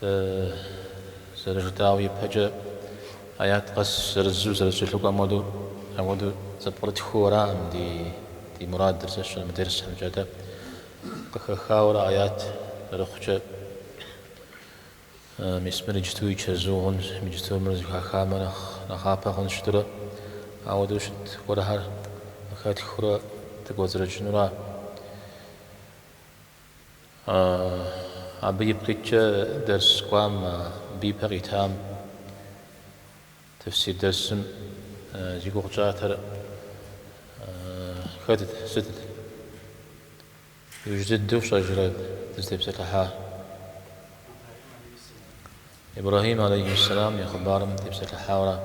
Дэ, зэрыжытӏауэ ипэкӏэ, аят къэс зырызу, зэрызэкӏэлъыкӏуэм хуэдэу, ауэдэу зэпкърытхыу аракъым ди мурадыр зэщхьыр мы дерсхэмкӏэ. Атӏэ, къыхэхауэрэ аят зэрыхъукӏэ, мис мыр иджыту и чэзу хъунщ, иджыту мыр зэхахамэ нэхъ нэхъапэ хъуну щытурэ, ауэдэу щыт гуэрхэр къыхэтхыурэ дыкӏуэцӏрыкӏыну ара. Абы ипкъыткӏэ дерс кӏуам абы ипэ къитам, тефсир дерсым, зи гугъу тщӏатэр хэт сыт? Иужь дыдэу фщӏэжрэ дызытепсэлъыхьар? Ибрэхьим алейхи сэлам и хъыбарым дытепсэлъыхьауэ ара.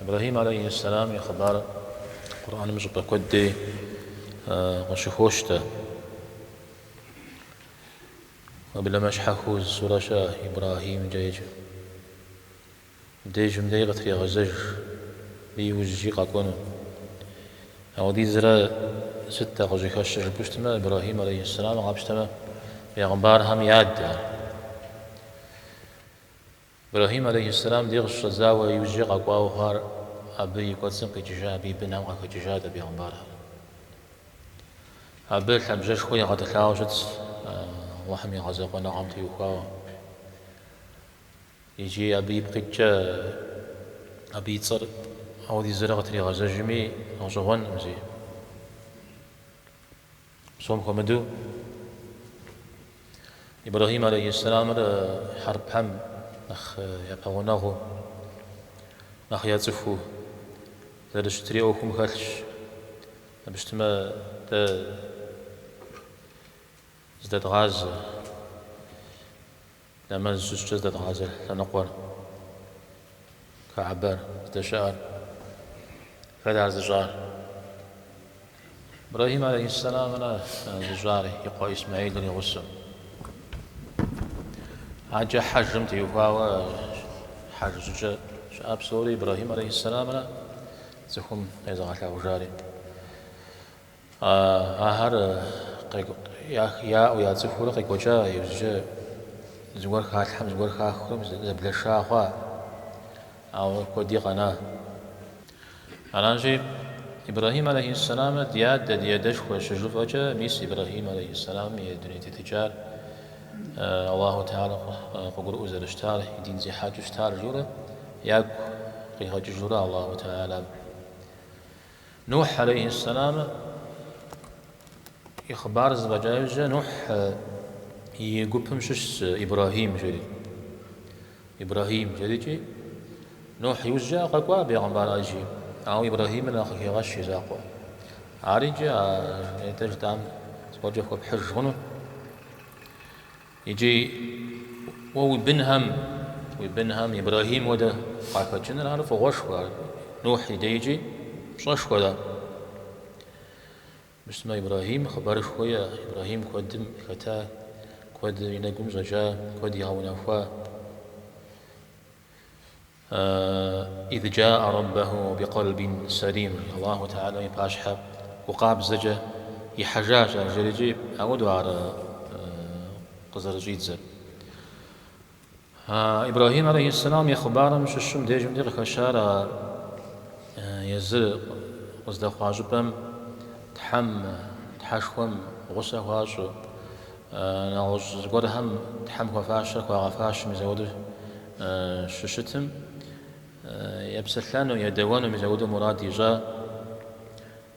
Ибрэхьим алейхи сэлам и хъыбар Къурӏэным щӏыпӏэ куэд дей къыщыхощ-тӏэ. Уеблэмэ щхьэхыу зы сурэ щыӏэ Ибрэхьимкӏэ еджэу. Абдежым дей къытрегъэзэж абы иужькӏи къэкӏуэну. Ауэдизрэ сыт-тӏэ къыщӏыхэщыр жыпӏэу щытмэ, Ибрэхьим алейхи сэлам къапщтэмэ, бегъымбархэм я адэ ар. Ибрэхьим алейхьисэлам дей къыщыщӏэдзауэ иужькӏэ къэкӏуауэ хъуар абы и кӏуэцӏым къикӏыжа, абы и бынхэм къахэкӏыжат а бегъымбархэр. Абы лъабжьэшхуэ игъэтӏылъауэ щытщ Аллахьым и гъэзэкъуэныгъэм теухуауэ икӏи абы ипкъыткӏэ абы и цӏэр ауэдизрэ къытригъэзэжми гъэщӏэгъуэнкъым зи. Псом хуэмыдэу, Ибрэхьим алейхьиссэламыр хьэрыпхэм нэхъ япэгъунэгъуу, нэхъ яцӏыхуу зэрыщытри ӏуэхум хэлъщ. Жыпӏэу щытмэ, дэ здэдгъазэ. Нэмэз щытщӏкӏэ здэдгъазэ лъэныкъуэр Каабэр здэщыӏэр хэт ар зыщӏар? Ибрэхьим алейхьиссэлам ара зыщӏар и къуэ Исмэхьилыр и гъусэу. Аджэ хьэжым теухуауэ хьэж щӏыкӏэ щыӏэ псори Ибрэхьим алейхьиссэлам ара цӏыхум къезыгъэлъагъужари. Ахэр яӏэу, яцӏыхуурэ къекӏуэкӏа иужькӏэ, зыгуэр халъхьэм, зыгуэр хаххэм зэблэша хъуа, ауэ куэди къэна. Аращи, Ибрэхьим алейхьиссэламыр ди адэ, ди адэшхуэщ, щыжыфӏэкӏэ, мис Ибрэхьим алейхьиссэламым и дуней тетыкӏар Аллаху тэхьэла къыгурыӏуэу зэрыщытар, и дин зехьэкӏэу щытар жиӏэурэ, ягу къигъэкӏыжурэ Аллаху тэхьэлам. Нухь алейхьиссалам и хъыбар зэфӏэкӏа иужькӏэ Нухь и гупым щыщщ Ибрахьим жери. Ибрахьим жерикӏи, Нухь иужькӏэ къэкӏуа бегъымбар ӏэджи, ауэ Ибрахьимыр нэхъ къыхегъэщ и закъуэ. Ар икӏи а жытӏам зыгуэркӏэ хуэпхьыж хъуну? Икӏи уэ уи бынхэм, уи бынхэм Ибрэхьим хуэдэ къахэкӏыныр ар фӏыгъуэшхуэ, ар Нухь и дежкӏи пщӏэшхуэрэ? Мыщтмэ, Ибрэхьим хъыбарышхуэ иӏэ, Ибрэхьим куэдым хэта, куэд и нэгум щӏэкӏа, куэд игъэунэхуа. Ид джаа роббэху бикъолбин салим, Алаху таалям и пащхьэ гу къабзэкӏэ ихьэжащ ар жерикӏи, ауэду ар къызэрыщӏидзэр. Ибрахим алейхи сэлам и хъыбарым щыщым дежымкӏэ къыхэщар а езыр къыздэхъуа щӏыпӏэм Тхьэм, Тхьэшхуэм гъусэ хуащӏу, нэгъуэщӏ зыгуэрхэм Тхьэм хуэфащэр хуагъэфащэу мис ауэду щыщытым, епсэлъэну, едэуэну мис ауэду мурад ищӏа.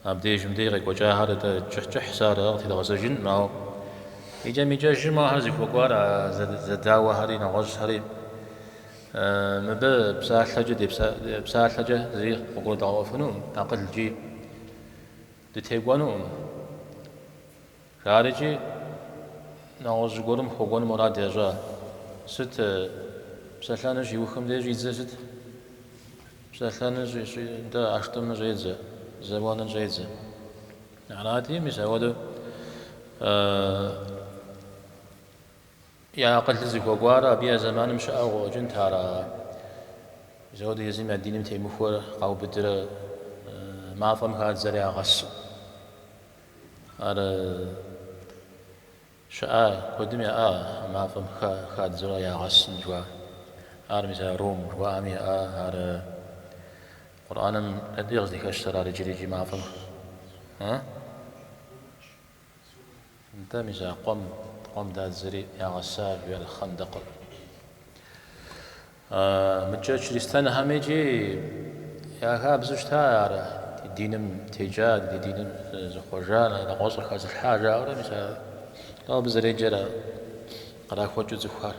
Абдежым деж къекӏуэкӏахэр атӏэ кӏыхь-кӏыхьщ, аракъэ, тедгъэзэжынкъым, ауэ икӏэм-икӏэжым ахэр зыхуэкӏуар а зэдауэхэри, нэгъуэщӏхэри. Мыбы псалъэкӏэ псалъэкӏэ зыри къыгурыдгъэӏуэфынукъым, акъылкӏи дытекӏуэнукъым. Ахэр икӏи нэгъуэщӏ зыгуэрым хуэкӏуэну мурад ящӏа? Сыт? Псэлъэну щиухым деж щӏидзэр сыт? Псэлъэну щӏи, нтӏэ, ӏэштӏым щӏедзэ, зэуэным щӏедзэ. Арати, мис ауэдэу я акъылыр зыхуэкӏуар абы я зэманым щыӏэу къыӏуэкӏынт ар. Мис ауэдэ езым я диным темыхуэр къаубыдрэ мафӏэм хадзэрэ ягъэсу. Ар щыӏа? Куэдым яӏа а мафӏэм хадзэурэ ягъэсын жыхуаӏэр. Ар мис а рум жыхуаӏэм иӏа? Ар Къурӏэным дэнэ къыздыхэщтэр ар иджыри-иджы мафӏэм? А? Нтӏэ, мис а къуэм, къуэм дадзэри ягъэса жиӏэр хъэндэкъым. Мыдэкӏэ чыристэнхэм икӏи я хабзэу щыта ар ди диным текӏа, ди диным зыхъуэжа, нэгъуэщӏыр хэзылъхьа жаӏэурэ, мис ар тӏэу абы зэреджэр ар кърахуэкӏыу цӏыхухэр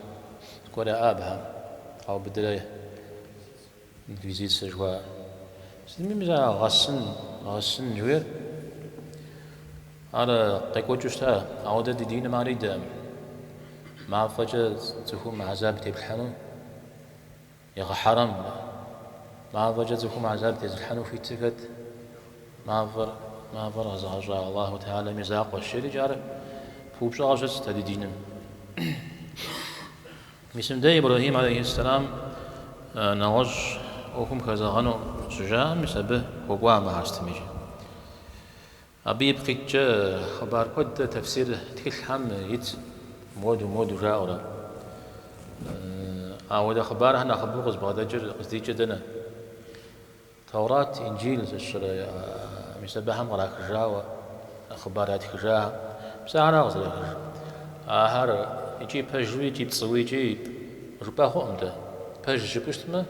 зыгуэр яӏэ абыхэм къаубыдырэ инквизицэ жыхуаӏэр. Сытми мис ар гъэсын, гъэсын жыхуиӏэр. Ар къекӏуэкӏыу щыта, ауэдэ ди диным ар идэ. Мафӏэкӏэ цӏыхум гьэзаб теплъхьэну егъэхьэрэм. Мафӏэкӏэ цӏыхум гьэзаб тезылъхьэну хуитыр хэт? Мафӏэр, мафӏэр къэзыгъэщӏа Аллаху Тэхьэлам и закъуэщ. Иджы ар пыупщӏауэ щыт дэ ди диным. Мисым дэ Ибрэхьим алейхьиссэлам нэгъуэщӏ ӏуэхум хэзэгъэну щыжаӏэм мис абы хуэкӏуа мыхьэстым иджы. Абы ипкъ иткӏэ хъыбар куэд тэфсир тхылъхэм итщ, моду, моду жаӏэурэ. Ауэдэ хъыбархэр нэхъыбэу къызбгъэдэкӏыр къыздикӏыр дэнэ? Тэурат, Инджил зыщӏрэ мис абыхэм кърахыжауэ хъыбар ятхыжахэм? Мис ахэр ара къызэрыхыжыр? Ахэр икӏи пэжуи, икӏи пцӏыуи, икӏи жыпӏэ хъуӏым дэ. Пэжщ жыпӏэу щытмэ,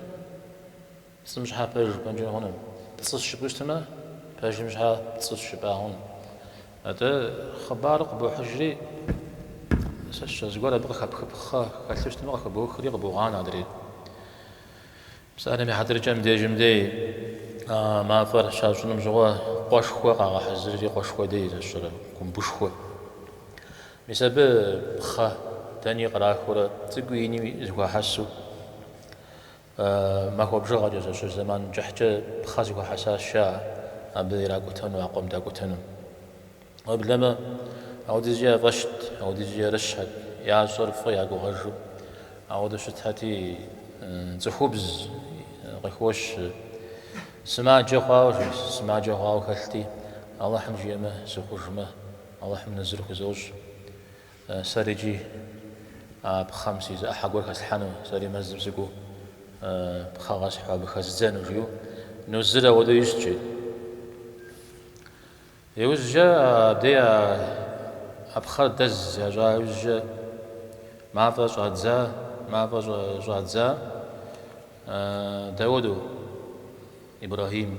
Пцӏым щхьэ пэж жыпӏэнкӏи хъуным. Пцӏыщ жыпӏэу щытмэ, пэжым щхьэ пцӏыщ жыпӏа хъуным. Атӏэ хъыбар къыбохьыжри, сэ зыгуэр абы къыхэпхыпхъэ хэлъу щытмэ, къыхыбохри къыбогъанэ адрейр. Псалъэм и хьэтыркӏэ мыбдежым дей а мафӏэр щащӏыным щыгъуэ къуэшхуэ къагъэхьэзырри къуэшхуэ дей зэщӏырэ гумбышхуэ. Мис абы пхъэ дэни кърахыурэ цӏыкӏуи ини зэхуахьэсу Махуэ бжыгъэкӏэ зэщыщ зэман кӏыхькӏэ пхъэ зэхуахьэсащ, а абы иракӏутэну, а къуэм дакӏутэну? Уеблэмэ, ауэдизкӏэ я фӏэщт, ауэдизкӏэ ерыщхэт, ящӏэр фӏы ягугъэжу. Ауэдэу щытхэти, цӏыхубз къыхощ, сымаджэ хъуауэ, жиӏэщ, сымаджэ хъуауэ хэлъти, Алыхьым жиӏэмэ, сыхъужмэ, Алыхьым нэзыр хузощӏ. Сэри иджы а пхъэм си зы ӏыхьэ гуэр хэслъхьэну, сэри мэзым сыкӏуэу пхъэ къэсхьу абы хэздзэну, жиӏэу нузыр ауэдэу ищӏкӏи. Иужькӏэ абдей а пхъэр дэз ящӏа иужькӏэ мафӏэ щӏадза, мафӏэ щӏадзат ауэдэу Ибрэхьим.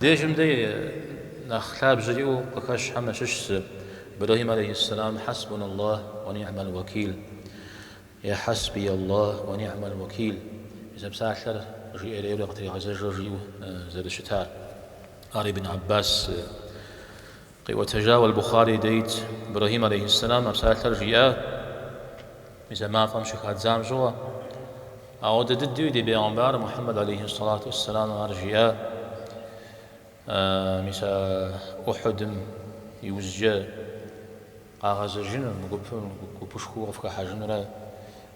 Дежым дэ нэхъ лъабжьэ иӏэу къыхэщхэм ящыщ зы, Ибрэхьим алейхьиссэлам, Хьэсбуна Аллахь уэ ни'мал уэкил, е Хьэсбий Аллахь уэ ни'мал уэкил, мис а псалъэр жиӏэрейуэ къытригъэзэжу жиӏэу зэрыщытар. Ар Ибн Аббас Къиӏуэтэжауэ Аль-Бухъари дей ит Ибрэхьим алейхьиссэлам а псалъэр жиӏар мис а мафӏэм щыхадзам щыгъуэ. Ауэдэ дыдэуи ди Бегъымбар Мухьэммэд алейхьиссалату уэсселам ар жиӏар мис а Ухьудым иужькӏэ къагъэзэжыну, мы гупым гупышхуэу къыфхыхьэжынурэ.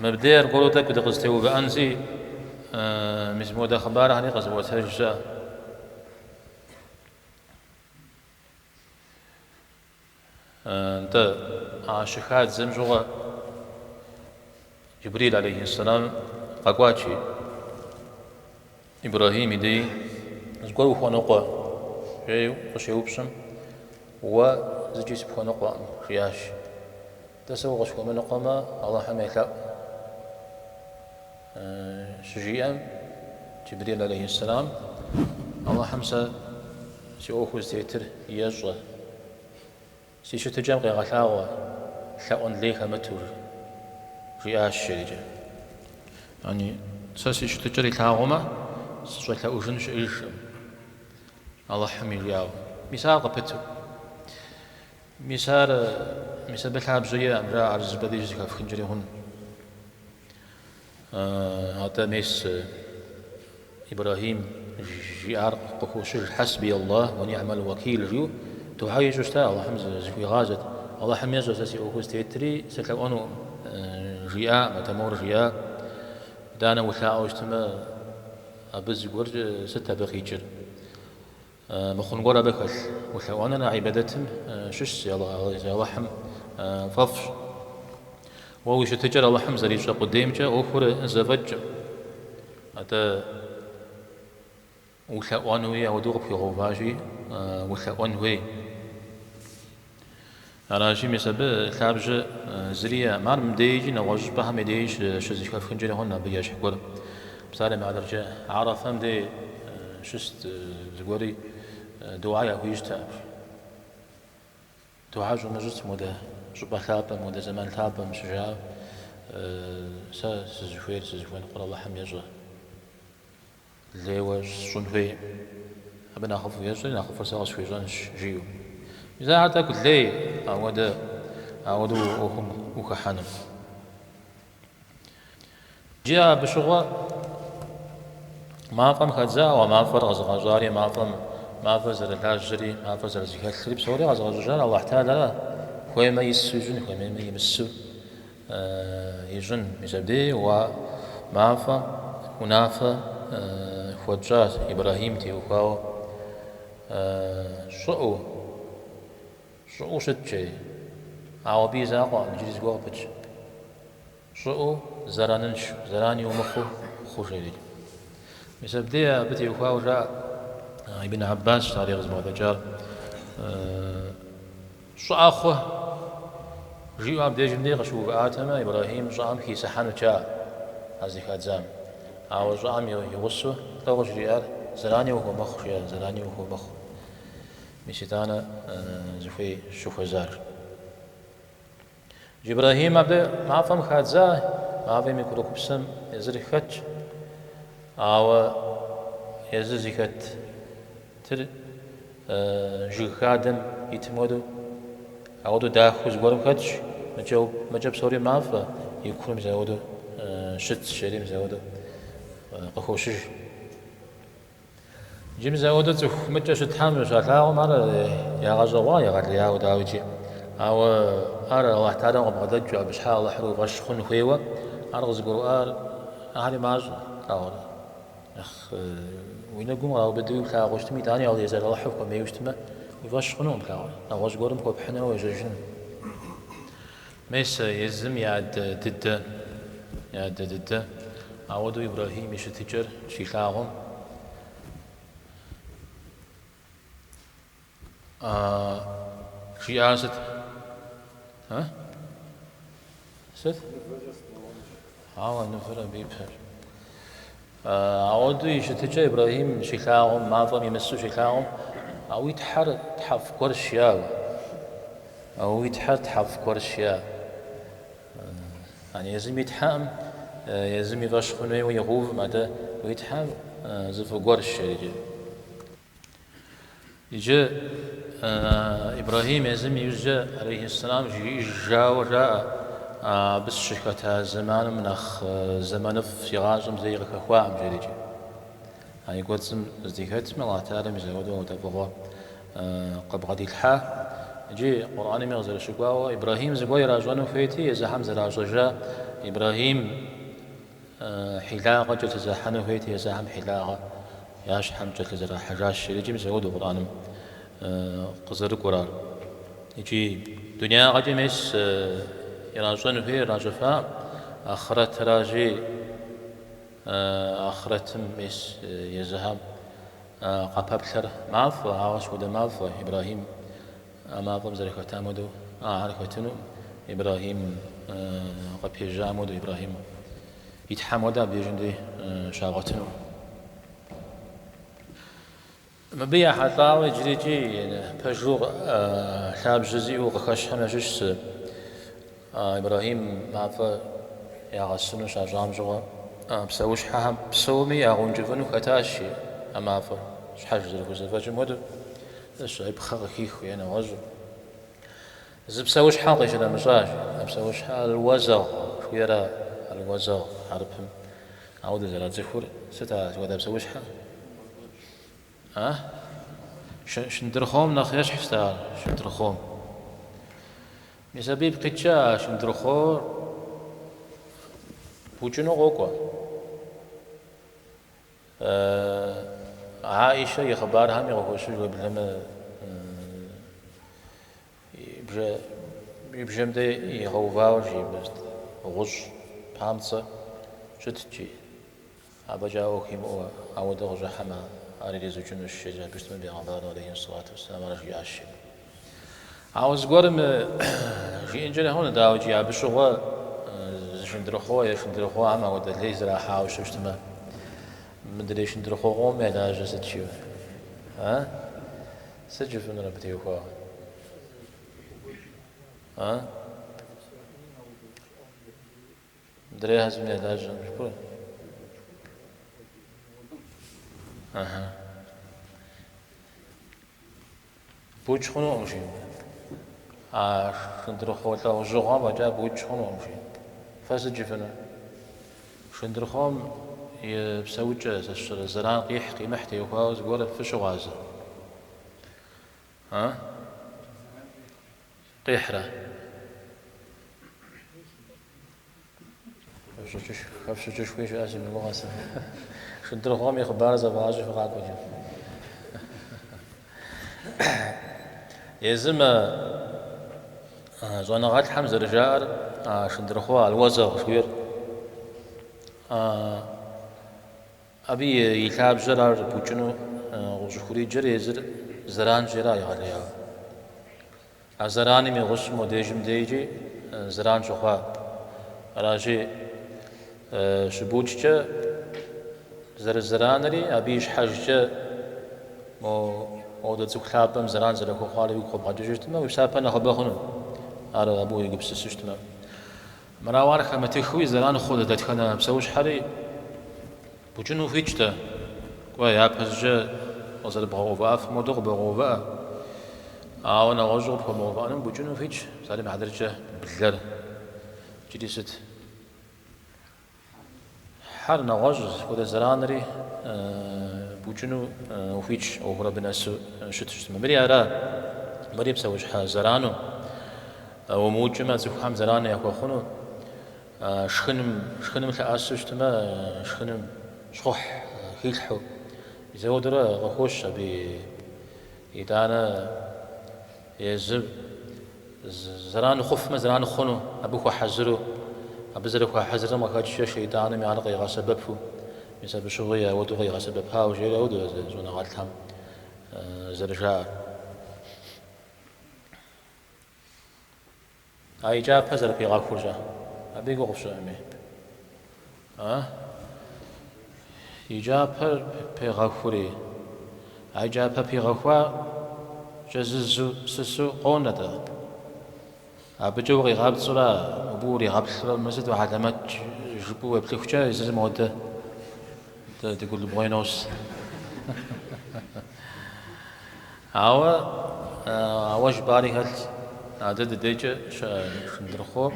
Мыбдеж аргуэру тӏэкӏу дыкъызытеувыӏэнщи, мис модэ хъыбархэри къызыӏуэтэж щыӏэ. Нтӏэ, а щыхадзэм щыгъуэ Джыбрил алейхиссалам къэкӏуати. Ибрэхьим и дей зыгуэр ухуэныкъуэ? жеу къыщеупщӏым, Уэ зыкӏи сыпхуэныкъуэкъым, жиӏащ. Нтӏэ сэ укъысхуэмыныкъуэмэ, Алыхьым елъэӏу. Щыжиӏэм, Джыбрил алейхьиссалам, Алыхьым сэ си ӏуэху зытетыр ещӏэ. Си щытыкӏэм къегъэлъагъуэ лъэӏуэн лей хэмыту, жиӏащ жерикӏэ. Яни, сэ си щытыкӏэр илъагъумэ, сыщӏэлъэӏужын щыӏэжкъым, Алыхьым и жиӏэу. Мис ар къыпыту. Мис ар, мис абы лъабжьэ иӏэкъым, жаӏэ, ар зы щӏыпӏэ деж зыхэфхынкӏэри хъунущ. Атӏэ мес Ибрэхьим жиӏар къыхощыж, Хьэсби Аллахь уэ ниӏмал уэкил, жиӏэу духьэ ищӏу щыта, Аллахьым зыхуигъазэт. Аллахьым ещӏэ сэ си ӏуэхур зытетри сылъэӏуэнукъым, жиӏаӏым, атӏэ мор жиӏа, Итӏанэ улъаӏуэу щытмэ, абы зыгуэр сыт абы къикӏыр? Мыхъун гуэр абы хэлъ? Улъэӏуэныр а ибадэтым щыщщ, езы Алыхьым фӏэфӏщ. Уэ уи щытыкӏэр Алыхьым зэрищӏэ къудеймкӏэ ӏуэхур зэфӏэкӏкъым. Атӏэ улъэӏуэнуи ауэдэу къыпхуигъэуващи, улъэӏуэн хуей. Аращи, мис абы лъабжьэ зыри иӏэкъым. Ар мыбдеикӏи нэгъуэщӏ щӏыпӏэхэм я деж щызэхэфхынкӏэри хъунущ абы ещхь гуэр. Псалъэм и хьэтыркӏэ, Арафэм де щыст зыгуэри духьэ яхуищӏтэкъым. Духьэ щӏумыщӏыт модэ щӏыпӏэ лъапӏэм, модэ зэман лъапӏэм щыжаӏэм, Сэ сызыхуейр, сызыхуэныкъуэр Алыхьым ещӏэ. Лейуэ сщӏын хуейкъым. Абы нэхъыфӏу ещӏэри, нэхъыфӏыр сэ къысхуищӏэнщ, жиӏэу. Мис ахэр тӏэкӏу лей, ауэдэ, ауэдэу уэ ӏуэхум ухыхьэным. Иджы абы щыгъуэ мафӏэм хадза, ауэ мафӏэр къэзыгъэщӏари, мафӏэм, мафӏэр зэрылажьэри, мафӏэр зэрызэхэлъри псори къэзыгъэщӏар Аллахь Тэхьэлэращ, хуеймэ ису ищӏын, хуеймэ имысу. Ищӏын, мис абдей а мафӏэм унафэ хуэтщӏащ Ибрэхьим теухуауэ. Щӏыӏэу, щӏыӏэу щыт жери, ауэ абы и закъуэкъым, иджыри зыгуэр къыпыкӏ. Щӏыӏэу зэранынш, зэран умыхъуу хъу жери. Мис абдей абы теухуауэ жаӏэ Ибн Аббас, ари къызыбгъэдэкӏар. Щӏыӏэ хъу! жиӏэу абдежым дей къыщыувыӏатэмэ, Ибрэхьим щӏыӏэм хисыхьэнут жаӏэ, а зыхадзам. Ауэ щӏыӏэм и гъусэу тӏэу жриӏар зэрани ухуэмыхъу, жиӏэр, зэрани ухуэмыхъу. Мис итӏанэ зыхуей щыхуэзар. Джы Ибрэхьим абы мафӏэм хадза, мафӏэм и курыкупсэм езыр хэтщ, ауэ езыр зыхэтыр жыг хадэм итым хуэдэу, ауэдэу дахэу зыгуэрым хэтщ, мыкӏэ псори мафӏэ, и курым мис ауэдэу щытщ, жери мис ауэдэу къыхощыж. Иджы мис ауэдэу цӏыху мыкӏэ щытхьэм щалъагъум ар ягъэщӏэгъуа егъэлеяуэ, дауикӏи. Ауэ ар Алыхь Тэхьэлам къыбгъэдэкӏыу, абы щхьа Алыхьыр уи фӏэщ хъун хуейуэ, ар къызыгурыӏуар ахьэри мащӏэ, плъагъурэ. Нэхъ уи нэгум къраубыдэуи плъагъуу щытми, итӏани а езыр Алыхьыр хуэмейуэ щытмэ, уи фӏэщ хъунукъым, плъагъурэ, нэгъуэщӏ гуэрым хуэпхьынурэ уежьэжыну. Мис а езым и адэ дыдэ, и адэ дыдэ, ауэдэу Ибрэхьим и щытыкӏэр щилъагъум, жиӏар сыт? А? Сыт? Ауэ мывэр абы и пэр. Ауэдэу и щытыкӏэ Ибрэхьим щилъагъум, мафӏэм имысу щилъагъум, А уи Тхьэр тхьэфӏ гуэрщ, яу. А уи Тхьэр тхьэфӏ гуэрщ, я. Ан езым и Тхьэм, езым и фӏэщ хъун хуейуэ игъэувым, атӏэ уи Тхьэр зы фӏы гуэрщ, жери. Иджы Ибрэхьим езым и ужькӏэ алейхьэссэлам жиӏэжауэ жаӏэ, абы сыщыхэта зэманым нэхъ зэманыфӏ си гъащӏэм зэи къыхэхуаӏым жери икӏи. А и кӏуэцӏым здыхэтым, Аллахь Тэхьэлам мис ауэдэу дэӏэпыкъу къыбгъэдилъхьа. Иджы Къурӏэнми къызэрыщыкӏуауэ, Ибрэхьим зыгуэр иращӏэну хуейти, езыхьэм зэращӏэжа Ибрэхьим. Хьилагъэ кӏэлъызэхьэну хуейти езыхьэм хьилагъэ я щхьэм кӏэлъызэрахьэжащ. Икӏи мис ауэдэу Къурӏэным къызэрыкӏуэрар. Икӏи дунеягъэкӏэ мес иращӏэн хуейр ращӏыфаӏым, ахърэтыращи, ахърэтым мес езыхьэм къапэплъэр мафӏэ, ауэ сыт хуэдэ мафӏэ Ибрэхьим. А мафӏэм зэрыхэтам хуэдэу ахэр хэтыну Ибрэхьим къыпежьам хуэдэу, Ибрэхьим и Тхьэм хуэдэу абдежьым дей щагъуэтыну. Мыбы ехьэлӏауэ иджырикӏи пэжу лъабжьэ зиӏэу къыхэщхьэм ящыщ Ибрэхьим мафӏэ ягъэсыну щащӏам щыгъуэ, псэущхьэхэм псоми ягъэункӏыфӏыну хэтащ и мафӏэр, щхьэж зэрыхузэфӏэкӏым хуэдэу, ищӏэ и пхъэ къыхихыу е нэгъуэщӏу. Зы псэущхьэ къищынэмыщӏащ, а псэущхьэр алуэзэгъ жыхуиӏэра, алуэзэгъ хьэрыпым ауэдэ зэрацӏыхур сыт а хуэдэ псэущхьэр? А? Шындырхъом нэхъ ещхьщ дэ ар, шындырхъом. Мис абы ипкъ иткӏэ а шындырхъор букӏыну къокӏуэ. Аишэ и хъыбархэми къыхощыж уеблэмэ и бжэм дей игъэувауэ жи, гъущӏ памцӏэ щытт жи. Абы фӏэкӏа ӏуэху имыӏэу ауэдэу къыщӏыхьэмэ, ар иризукӏынущ, жери абы щытмэ, бегъымбар алейхьи сэлату уэсселам ар жиӏащ, жери. Ауэ зыгуэрым жиӏэнкӏэ хъунщ, дауэ икӏи абы щыгъуэ зы шындырхъо е шындырхъохэм ауэдэ лей зэрахьауэ щыщытмэ, мыдрей шындырхъохэм я лажьэр сыт жиӏэу? А? Сыт жыфӏынур абы теухуауэ? А? Мыдрейхэ езым я лажьэ щыӏэкъым. Ага. Букӏ хъунукъым жи. А шындырхъо лӏэужьыгъуэм фӏэкӏа букӏ хъунукъым жи. Фэ сыт жыфӏыну? Шындырхъом и псэукӏэ зэран къихь къимыхь теухуауэ зыгуэр фыщыгъуазэ. А? Къихьрэ. Хэфщӏыкӏышхуи щыӏэ си гугъэ сэ. Шындырхъом и хъыбарыр зэвгъащӏи фыкъакӏуэ иджы. Езым а щӏэныгъэлӏхэм зэрыжаӏэр а шындырхъо алуэзэгъ жыхуиӏэр. Абы и лъабжьэр ар букӏыну къыщӏыхуриджэр езыр зэранщӏэра егъэлеяуэ. А зэраным и гъусэу мобдежым дейкӏи зэран щыхъуа. Аращи, щыбукӏкӏэ зэрызэранри, абы и щхьэжкӏэ мо модэ цӏыху лъапӏэм зэран зэрыхуэхъуари уигу къыбгъэкӏыжу щытмэ, уи псапэ нэхъыбэ хъуну, ар абы уегупсысу щытмэ. Мэрауэ ар хэмытыххэуи зэран хъу дэ дэтхэнэ псэущхьэри букӏыну ухуитщ дэ, кӏуэ, япэщӏыкӏэ къызэрыбгъэувыӏэфым хуэдэу къыбогъэувыӏэ, ауэ нэгъуэщӏу къыпхуэмыгъэувыӏэнум букӏыну ухуитщ, псалъэм и хьэтыркӏэ блэр иджыри сыт? Хьэр нэгъуэщӏ зыхуэдэ зэранри букӏыну ухуитщ, ӏуэхур абы нэсу щыту щытмэ. Мыри ара? Мыри псэущхьэ зэрану? Умыукӏмэ, цӏыхухэм зэран яхуэхъуну? Шхыным, шхыным лъэӏэсу щытмэ, шхыным щхъухь хилъхьу. Мис ауэдурэ къыхощ абы и Итӏанэ езыр зэран хъуфмэ, зэран хъуну, абы хуэхьэзыру, абы зэрыхуэхьэзырым къыхэкӏкӏэ шейтӏанми ар къигъэсэбэпу, мис абы щыгъуи ауэдэу къигъэсэбэпауэ, жери ауэду щӏэныгъэлӏхэм зэрыжаӏэр. А и кӏапэ зэрыпигъэхуркӏэ, абы и гугъу пщӏыӏэми. А и кӏапэр пигъэхури, а и кӏапэ пигъэхуа кӏэзызу сысу къонэ-тӏэ. Абыкӏэ укъигъапцӏэурэ, абы уригъэплъурэ, мыр сыту хьэлэмэт жыпӏэу уеплъыхукӏэ, езыр модэ Дыгулыбгъуей нос. Ауэ, ауэ жыпӏари хэлъщ, а дэ ди дейкӏэ щыӏэ шындырхъуо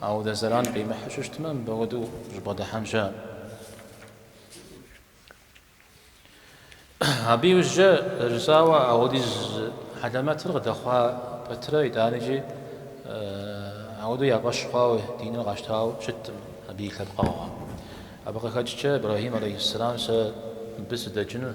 ауэдэ зэран къимыхьу щытмэ, мыбы хуэдэу ущӏыбгъэдыхьэн щыӏэкъым. Абы иужькӏэ, зэрыжысӏауэ, ауэдиз хьэлэмэтыр къыдэхъуа пэтрэ итӏанэкӏи ауэдэу я фӏэщ хъуауэ диныр къащтауэ щыткъым абы и лъэпкъэгъухэм. Абы къыхэкӏкӏэ, Ибрэхьим алейхьиссэлам, сэ мыбы сыдэкӏыну,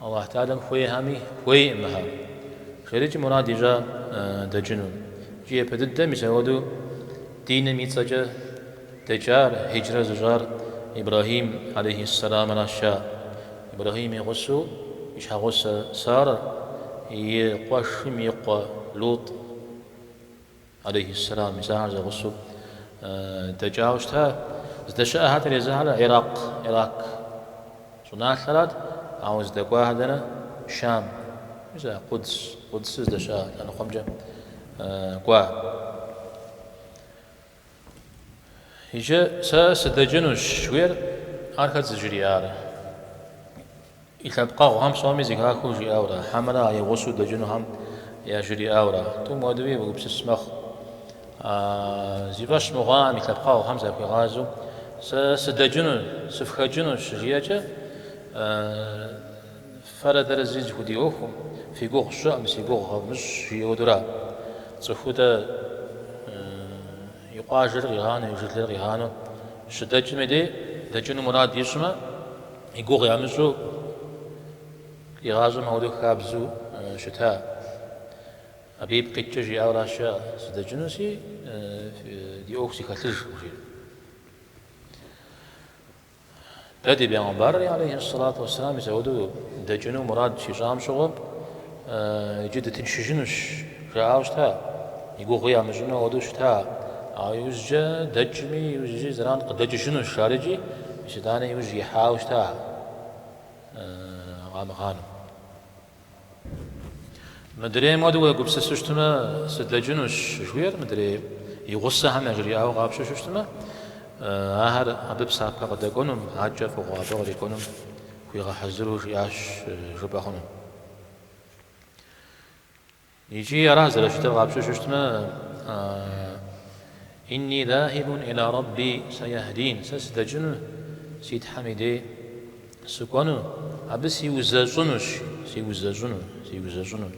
Аллахь Тэӏалэм хуейхэми хуейкъым мыхэр, жери икӏи мурад ищӏа дэкӏыну. Икӏи япэ дыдэ мис ауэду диным и цӏэкӏэ дэкӏар, хьиджрэ зыщӏар Ибрэхьим алейхьиссэламращ. Ибрэхьим и гъусэу и щхьэгъусэ Сарэр, и къуэшым и къуэ Лут. алейхьиссэлам, мис ахэр зэгъусэу дэкӏауэ щыта, здэщыӏэхэтэр езыхэр Иракъ, Ирак щӏыналъэрат, ауэ здэкӏуахэр дэнэ, Щам, мис а Къудс, Къудсыр здэщыӏэ лъэныкъуэмкӏэ кӏуа. Иджы сэ сыдэкӏынущ, жыхуиӏэр, ар хэт зыжриӏар? И лъэпкъэгъухэм псоми зэхахыу жиӏауэрэ, хьэмэрэ а и гъусэу дэкӏынухэм яжриӏауэрэ, тӏум хуэдэуи уегупсыс мэхъу. Зи фӏэщ мыхъуахэм, и лъэпкъэгъухэм захуигъазэу, Сэ сыдэкӏыну, сыфхэкӏыну щыжиӏэкӏэ, фэрэ дэрэ зыри зэхудиӏуэхукъым, фи гугъу сщӏыкъым, си гугъу къэвмыщӏ, жиӏэу ауэдурэ цӏыхутӏэ. И къуажэр къигъанэу, и жылэр къигъанэу щыдэкӏым дей, дэкӏыну мурад ищӏмэ, и гугъу ямыщӏу игъащӏэм ауэдэу хабзэу щыта. Абы ипкъ иткӏэ жиӏауэращ, жаӏэ, Сыдэкӏыну си, ди ӏуэху сыхэлъыж, жиӏэу. Дэ ди Бегъымбарри алейхьэссалату уэсселам мисауэдэу дэкӏыну мурад щищӏам щыгъуэ иджы дытыншыжынущ жаӏауэ щыта, и гугъи ямыщӏыну ауэдэу щыта, ауэ иужькӏэ дэкӏми, иужькӏи зэран къыдэкӏыжынущ ар икӏи итӏанэ иужь ихьауэ щыта къамыгъанэу. Мыдрейм хуэдэу уегупсысу щытмэ, сыдэкӏынущ жыхуиӏэр, мыдрей и гъусэхэм яжриӏауэ къапщтэу щытмэ, ахэр абы псапэ къыдэкӏуэнум, адэкӏэ фӏыгъуэ абы кърикӏуэнум хуигъэхьэзыру жиӏащ жыпӏэ хъуну. Икӏи ара зэрыщытыр къапщтэу щытмэ, Инни заһибун иля Рабби саяһдин, сэ сыдэкӏыну си Тхьэм и дей сыкӏуэну, абы сиузэщӏынущ, сиузэщӏыну.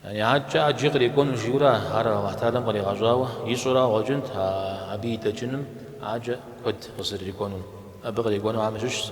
Яни адэкӏэ ӏэджи кърикӏуэну жиӏэурэ ар Аллахь Тхьэалэм къригъэщӏауэ ищӏэу ара къыщӏэкӏынт абы и дэкӏыным ӏэджэ куэд къызэрырикӏуэнум. Абы кърикӏуэнухэм щыщщ.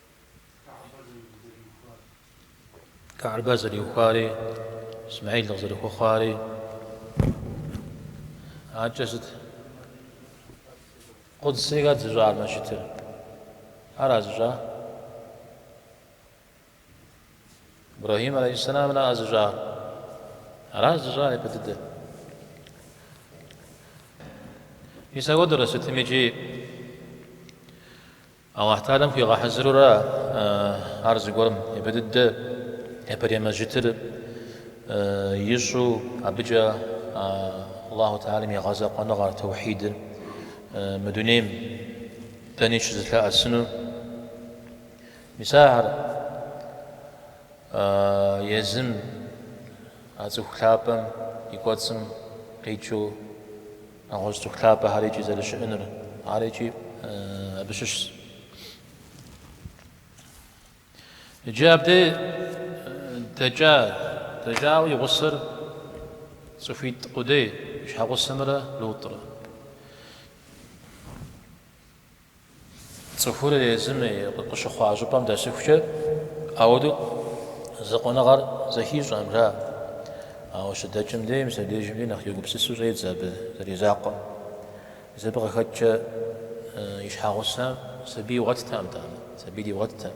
Ка'бэ зэриухуари, Исмаил къызэрыхуэхъуари адэкӏэ сыт? Къудси хэт зыщӏар мэжджытыр? Ара зыщӏар? Ибрахим алейхиссаламра зыщӏар? Ара зыщӏар япэ дыдэр? Мис ауэдэурэ сытми икӏи Алыхь Тхьэалэм хуигъэхьэзыру ара ар зыгуэрым? Япэ дыдэ, япэрей мэжджытыр ищӏу, абыкӏэ Алыхь Тхьэалэм и гъэзэкъуэныгъэр, тоухьидыр, мы дунейм дэни щызылъэӏэсынур. Мис ахэр езым, а цӏыху лъапӏэм и кӏуэцӏым къикӏыу, Нэгъуэщӏ цӏыху лъапӏэхэр икӏи зэрыщыӏэнур, ар икӏи абы щыщщ. Иджы абдей дэкӏа, дэкӏауэ и гъусэр цӏыхуитӏ къудей, и щхьэгъусэмрэ Лутӏрэ. Цӏыхур езым и къыщыхъуа щӏыпӏэм дэсыхукӏэ, ауэдэу закъуэныгъэр зэхищӏэкъым, ара. Ауэ щыдэкӏым дей, мис абдежым дей, нэхъ егупсысу щӏедзэ абы зэризакъуэм. Мис абы къыхэкӏкӏэ и щхьэгъусэм сабий игъуэттэкъым, нтӏэ, сабий дигъуэттэкъым.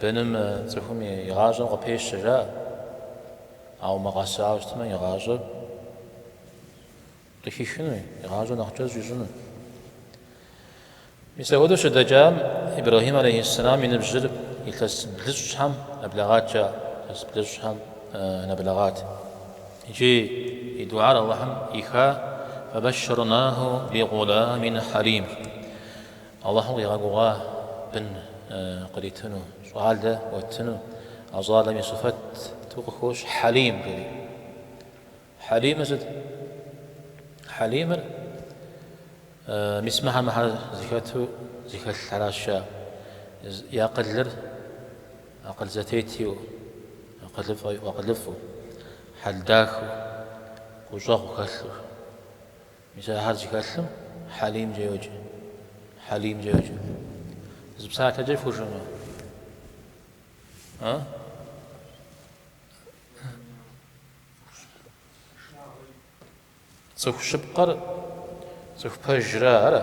Быным цӏыхум и гъащӏэм къыпещэ, жаӏэ. Ауэ мыгъэсауэ щытмэ, и гъащӏэр къыхихынуи, и гъащӏэр нэхъ кӏэщӏ ищӏыну. Мис апхуэдэу щыдэкӏам, Ибрэхьим алейхьиссэлам и ныбжьыр илъэс блыщӏщхьэм нэблэгъат, жаӏэ. Илъэс блыщӏщхьэм нэблэгъат. Иджы и дуӏар Алыхьым ӏиха, Фэбэшшэрнаху би гъуламин хьэлим. Алыхьым къигъэгугъа бын къритыну, щӏалэ уэттыну, а щӏалэм и щыфэтту къыхощ Хьэлим жери. Хьэлимыр сыт? Хьэлимыр мис мыхьэ-мыхьэр зыхэту зыхэлъхьэращ я и акъылыр акъыл зэтету, акъылыфӏэу, хьэл дахэу, гущӏэгъу хэлъу. Мис ахэр зыхэлъым Хьэлимкӏэ йоджэ. Хьэлимкӏэ йоджэ. Зы псалъэкӏэ фхужыӏэну? А? Цӏыху щыпкъэр цӏыху пэжра, ара?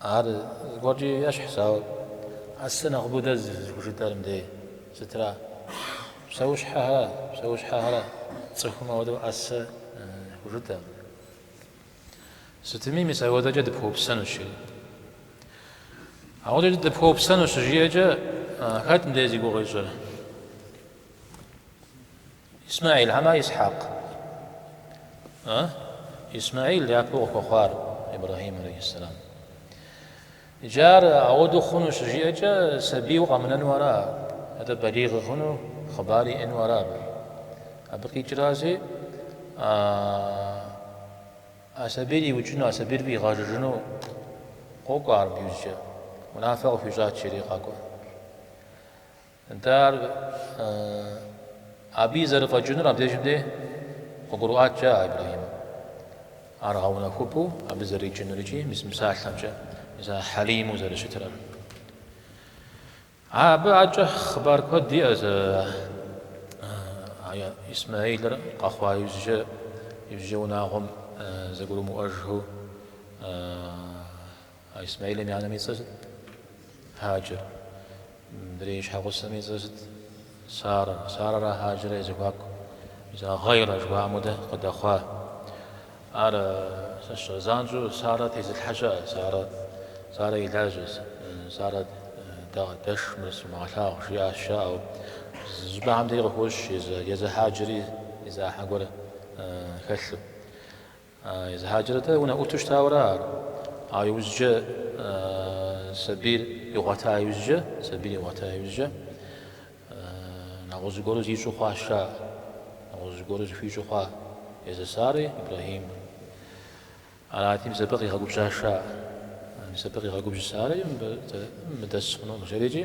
Ар зыгуэркӏи ещхьщ, ауэ ӏэсэ нэхъыбэу дэ зыхужытӏэр мыдей сытра? Псэущхьэхэр, псэущхьэхэра, цӏыхум ауэдэу ӏэсэ хужытӏэм. Сытми, мис ауэдэкӏэ дыпхуэупсэнущ. Ауэдэкӏэ дыпхуэупсэнущ жиӏэкӏэ, хэт мыдей зи гугъу ищӏыр? Исмэӏил хьэмэ Исхьэкъ? Исмэӏил япэу къыхуэхъуар Ибрэхьим алейхьэссэлам. Иджы ар ауэдэу хъуну щыжиӏэкӏэ сабийуэ къэмынэну ара, атӏэ балигъ хъуну, хъыбар иӏэну ара абы. Абы къикӏрази, а сабийр иукӏыну, а сабийр фӏигъэжыжыну къокӏуэ ар абы иужькӏэ, унафэ къыхуищӏат жери къакӏуэ. Нтӏэ, ар абы и зэрыфӏэкӏынур абдежым дей къыгурыӏуаткӏэ ара Ибрэхьимым? Ар гъэунэхупӏэу абы зэрикӏынур икӏи мис мы псалъэмкӏэ, мис ар хьэлиму зэрыщытыра. Абы адэкӏэ хъыбар куэд иӏэщ Исмэилыр къэхъуа иужькӏэ унагъуэм зэгурымыӏуэжхэу. А Исмэилым и анэм и цӏэр сыт? Хьаджэр. Мыдрей и щхьэгъусэм и цӏэр сыт? Сарэ. Сарэрэ Хьаджэррэ я зэхуаку. Мис гъейрэ жыхуаӏэм хуэдэ къыдэхъуа. Ар занщӏэу Сарэ тезылъхьэ щыӏэ. Сарэ, Сарэ и лажьэ. Сарэ дэш, мыр сумыгъэлъагъу, жиӏащ, жаӏэу. Зы щӏыпӏэхэм дейри къыхощ езы Хьаджэри и зы ӏыхьэ гуэр хэлъу. Езы Хьаджэрэ-тӏэ унэӏуту щытауэра ар? Ауэ иужькӏэ сабийр игъуэта иужькӏэ, сабийр игъуэта иужькӏэ, нэгъуэщӏ зыгуэру зищӏу хъуа Аиша, нэгъуэщӏ зыгуэру зыхуищӏу хъуа езы Сари Ибрэхьим. Арати, мис абы къигъэгубжьа Аиша, мис абы къигъэгубжьа Сари мыбы дэс хъунукъым жэрикӏи.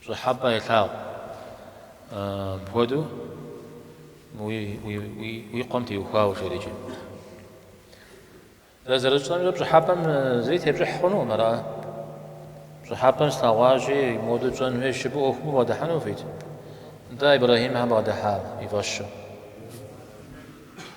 Пщӏыхьэпӏэ елъагъу. Мыпхуэдэу уи къуэм теухуауэ жэрикӏи. Дэ зэрытщӏэмкӏэ пщӏыхьэпӏэм зыри тепщӏыхь хъунукъым, ара? Пщӏыхьэпӏэм слъэгъуащи, моду тщӏэн хуейщ жыпӏэу ӏуэхум убгъэдыхьэну ухуит? Нтӏэ, Ибрэхьим щхьэ бгъэдыхьа и фӏэщу.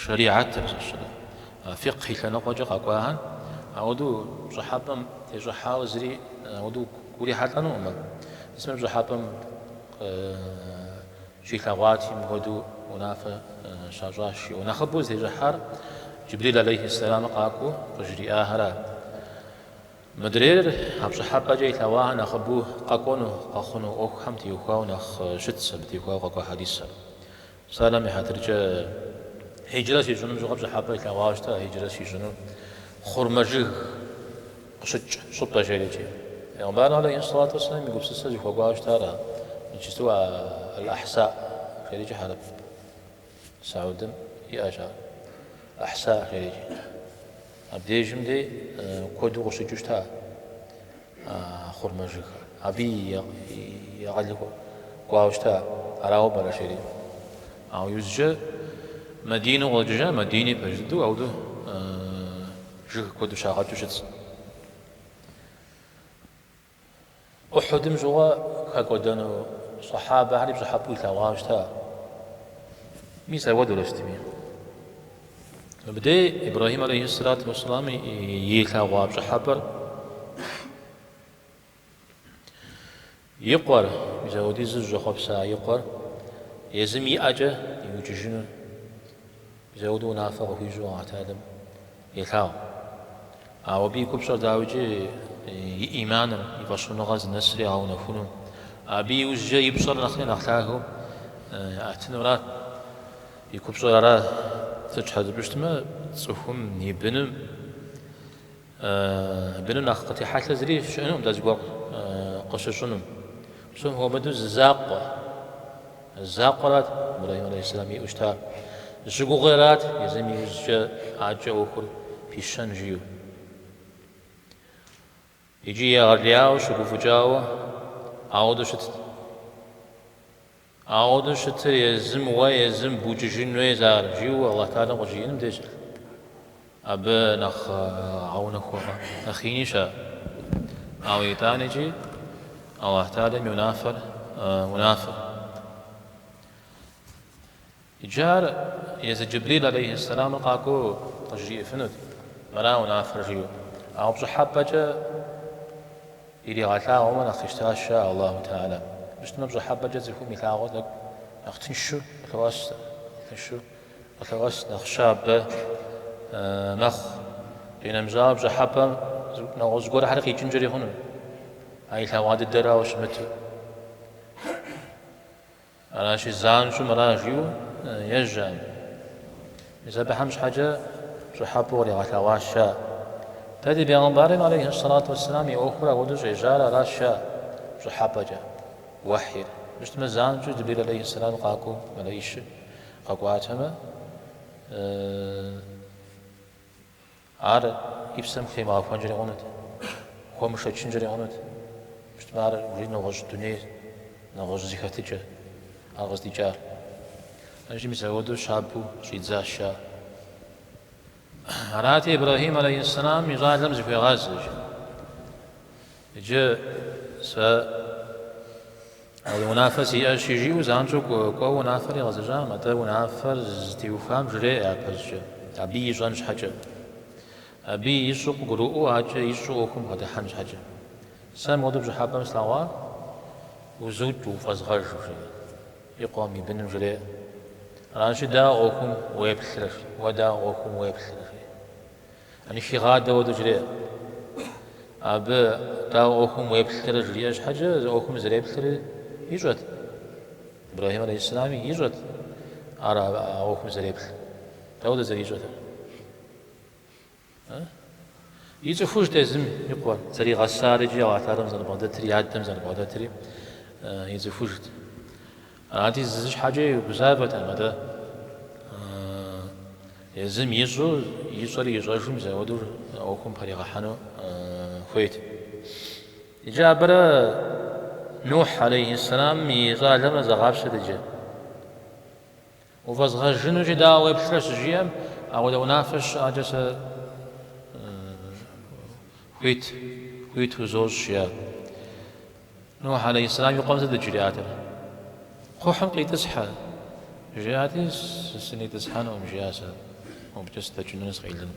Шэрихьэтыр зыщыӏэр, фикъхь и лъэныкъуэкӏэ къэкӏуахэр, ауэдэу пщӏыхьэпӏэм тещӏыхьауэ зыри ауэдэу урихьэлӏэнукъым абы. Мис мыр пщӏыхьэпӏэм щилъэгъуати, мыпхуэдэу унафэ щащӏащ жиӏэу, нэхъыбэу зытещӏыхьар Джыбрил алейхьиссэламыр къакӏуэу къыжриӏахэрат. Мыдрейр а пщӏыхьэпӏэкӏэ илъэгъуахэр нэхъыбэу къэкӏуэну, къэхъуну ӏуэхухэм теухуауэ нэхъ щытщ, абы теухуауэ къэкӏуа хьэдисыр. Псалъэм и хьэтыркӏэ хьиджрэ щищӏынум щыгъуэ пщӏыхьэпӏэ илъэгъуауэ щыта, хьиджрэ здищӏыну хъурмэ жыг къыщыкӏ щӏыпӏэ жэрикӏи. Пэйгъэмбар алейхьи ссалату уэсселам и гупсысэ зыхуэкӏуауэ щытар ара? Иджыпсту а Аль-Ахьса жэрикӏи хьэрып Саудым иӏэщ ар. Ахьса жэрикӏи. Абдежым дей куэду къыщыкӏыу щыта а хъурмэ жыгхэр. Абы и акъыл хуэкӏуауэ щыта, арауэ пӏэрэ жэри? Ауэ иужькӏэ Мадинэу къыщӏэкӏыжа, Мадини пэж дыдэу ауэдэу жыг куэду щагъэкӏыу щытщ. Ухьудым щыгъуэ хэкӏуэдэну сэхьабэхэри пщӏыхьэпӏэу илъэгъуауэ щыта? Мис ауэдэурэ щытми. Мыбдей Ибрэхьим алейхьиссалату уассалам илъэгъуа пщӏыхьэпӏэр и къуэр, мис ауэдиз зыщӏэхъуэпса и къуэр, езым и ӏэкӏэ иукӏыжыну. Мис ауэдэу унафэ къыхуищӏу Алыхьталэм елъагъу. Ауэ абы и купщӏэр дауикӏи и иманыр, и фӏэщхъуныгъэр зынэсыр ягъэунэхуну, абы иужькӏэ и пщӏэр нэхъри нэхъ лъагэу яӏэтынурат. И купщӏэр ара? Сыт щхьэ жыпӏэу щытмэ, цӏыхум и быным, Быным нэхъ къытехьэлъэ зыри щыӏэнукъым дэ зыгуэр къыщыщӏынум. Псом хуэмыдэу зы закъуэ, закъуэрат Ибрэхьим алейхьэсэлам иӏэу щытар, зыщыгугъыэрат езым иужькӏэ адэкӏэ ӏуэхур пищэн жиӏэу. Икӏи егъэлеяуэ щыгуфӏыкӏауэ ауэдэу щытт. Ауэдэу щытрэ езым уэ, езым букӏыжын хуейщ ар, жиӏэу Алыхь Тэхьэлам къыбжиӏэным деж абы нэхъ гъэунэхугъэ, нэхъ инищ ар. Ауэ итӏанэкӏи Алыхь Тэхьэлам и унафэр унафэкъэ. Иджы ар езы Джэбрил алейхьи сэлэмыр къакӏуэу къыжриӏэфынут, Мыра унафэр, жиӏэу. Ауэ пщӏыхьэпӏэкӏэ иригъэлъагъуэмэ нэхъ къищтащ ар Аллаху тэхьэла. Мыщтэмэ пщӏыхьэпӏэкӏэ цӏыхум илъагъур тӏэкӏу нэхъ тыншу къылъоӏэс, нэхъ щабэ мэхъу. Къинэмыщӏауэ, пщӏыхьэпӏэм нэгъуэщӏ зыгуэрхьэр къикӏынкӏэри хъуну, а илъэгъуа дыдэрауэ щымыту. Аращи, занщӏэу мыра жиӏэу ежьам. Мис абыхэм щхьэкӏэ пщӏыхьэпӏэу къригъэлъэгъуащ ар. Дэ ди бегъымбарми, алейхьи ссалату уэсселам, и ӏуэхур ауэдэу щӏежьар аращ ар, пщӏыхьэпӏэкӏэ, уэхьир. Мыщтмэ, занщӏэу Джыбрил, алейхьи ссалам, къакӏуэу мэлэищыр къэкӏуатэмэ, Ар и псэм хутемыгъэхуэнкӏэри хъунут, хуэмышэчынкӏэри хъунут. Мыщтмэ, ар жи нэгъуэщӏ дунейр, нэгъуэщӏ зи хэтыкӏэр, ар къыздикӏар. Иджы мис апхуэдэу щабэу щӏидзащ ар. Арати, Ибрэхьим алейхьэссэлам и щӏалэм зыхуегъазэжыр. Иджы сэ унафэ сиӏэщи, жиӏэу занщӏэу кӏуэуэ унафэр игъэзэщӏам, атӏэ унафэр зытеухам жреӏэ япэщӏкӏэ, абы ищӏэн щхьэкӏэ. Абы ищӏэу къыгурыӏуэу адэкӏэ ищӏэу ӏуэхум бгъэдыхьэн щхьэкӏэ. Сэ мыуэдэу пщӏыхьэпӏэм слъэгъуар, узукӏыу, уфӏэзгъэжу, жери, и къуэм, и быным жреӏэ. Аращи, дауэ ӏуэхум уеплърэ, уэ дауэ ӏуэхум уеплърэ, жери. Яни хигъадэ хуэдэу жреӏэ. Абы, дауэ, ӏуэхум уеплъырэ жриӏэ щхьэкӏэ, езыр ӏуэхум зэреплъыр ищӏэт. Ибрэхьим алейхьисалам ищӏэт ар а ӏуэхум зэреплъ. Дауэдэу зэрищӏэтыр? Ицӏыхужт езым и къуэр, зэригъэсар икӏи Алыхь Тэхьэлам зэрыбгъэдэтри, адэм зэрыбгъэдэтри ицӏыхужт. Ади зы щхьэкӏэ гузавэтэм, атӏэ езым ищӏэу, ищӏэр ищӏэжу мис ауэдэу а ӏуэхум пэригъэхьэну хуейт. Иджы абырэ Нухь алейхьиссэламым и щӏалэмрэ зэгъапщэт иджы. Уфӏэзгъэжынущи дауэ уеплърэ щыжиӏэм, ауэдэ унафэ щыӏэкӏэ сэ хуит, хуит узощӏ, жиӏат. Нухь алейхьсэлам и къуэм сыт жриӏатэр? Кхъухьым къитӏысхьэ, жиӏати, сынитӏысхьэнум, жиӏащ, сэ мыбыкӏэ сыдэкӏыну сыкъелыну.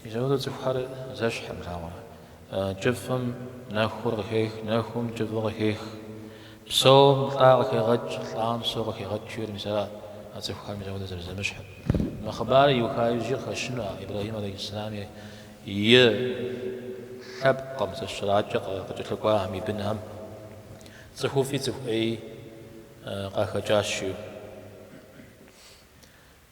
Мис апхуэдэу цӏыхухэр зэщхьым арауэ. Кӏыфӏым нэхур къыхех, нэхум кӏыфӏы къыхех. Псоум лӏа къыхегъэкӏ, лӏам псоу къыхегъэкӏ жиӏэр мис арат а цӏыхухэр мис апхуэдэу зэрызэмыщхьыр. Мы хъыбар иуха иджы къыхэщыну а Ибрэхьим алейхьэссэлам и лъэпкъым щыщ адэкӏэ къыкӏэлъыкӏуахэм и бынхэм цӏыхуфӏи цӏыху ӏеи къахэкӏащ жиӏэу.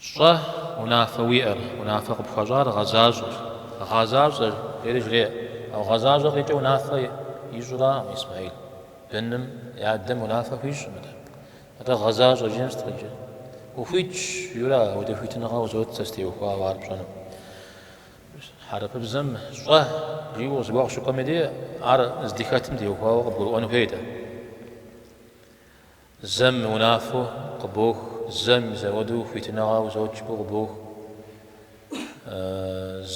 Щӏэ унафэ уиӏэр, унафэ къыпхуащӏар гъэзащӏэ, гъэзащӏэ, жери жреӏэ. Ауэ гъэзащӏэ къикӏыу унафэ ищӏыракъым Исмэхьил. Быным и адэм унафэ хуищӏыркъым. Атӏэ гъэзащӏэ жиӏэм сыт къикӏыр? Ухуитщ, жиӏэурэ апхуэдэ хуитыныгъэ узот сэ сытеухуауэ ар пщӏэну. Хьэрыпыбзэм щӏэ жиӏэу зэуэ къыщыкӏуэм дей, ар здыхэтым теухуауэ къыбгурыӏуэну хуейт ар. Зэм унафэу къыбох, зэм мис апхуэдэу хуитыныгъэ узот жиӏэу къыбох,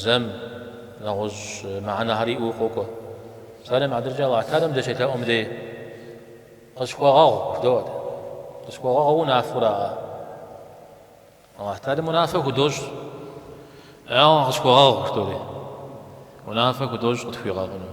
зэм нэгъуэщӏ мыхьэнэхэр иӏэу къокӏуэ. Псалъэм и хьэтыркӏэ Алыхьталэм дыщелъэӏум дей къысхуэгъэгъу жыдоӏэ. Къысхуэгъэгъур унафэу араӏэ. Алыхьталэм унафэ худощӏ, ауэ къысхуэгъэгъу жыдоӏэри, унафэ худощӏ къытхуигъэгъуну.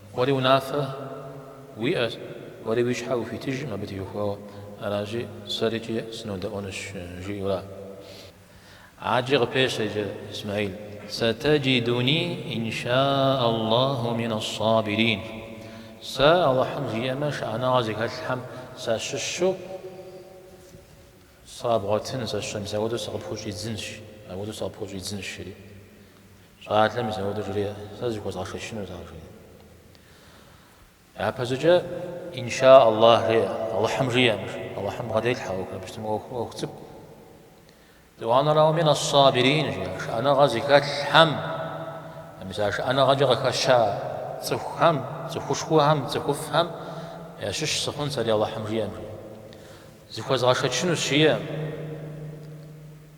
Уэри унафэ уиӏэ, уэри уи щхьэ ухуитыжым абы теухуауэ, аращи, сэри икӏи сынодэӏуэнущ, жиӏэу ара. Адэкӏэ къыпещэ иджы Исмэхьил. Сатаджидуни инша Аллаху минас-сабирин. Сэ Алыхьым жиӏэмэ, шыӏэныгъэ зыхэлъхэм сащыщу сыбгъуэтынщ, сащыщ, мис апхуэдэу сыкъыпхущӏидзынщ, апхуэдэу сыкъыпхущӏидзынщ, жери. Щӏалэм мис апхуэдэу жреӏэ, сэ зыхуэзгъэшэчынут ар жреӏэ. Япэщӏыкӏэ инша Аллахь жеӏэ, Алыхьым жиӏэм, жи, Алыхьым бгъэделъхьэ ӏуэхур, абы щытмэ ӏуэху, ӏуэху цӏыкӏу. Етӏуанэрауэ мин ас-сабирин жиӏа шыӏэныгъэ зыхэлъхэм, мис а шыӏэныгъэкӏэ къыхэща цӏыхухэм, цӏыхушхуэхэм, цӏыхуфӏхэм ящыщ сыхъун сэри Алыхьым жиӏэм жиӏэ. Зыхуэзгъэшэчынущ жиӏэм.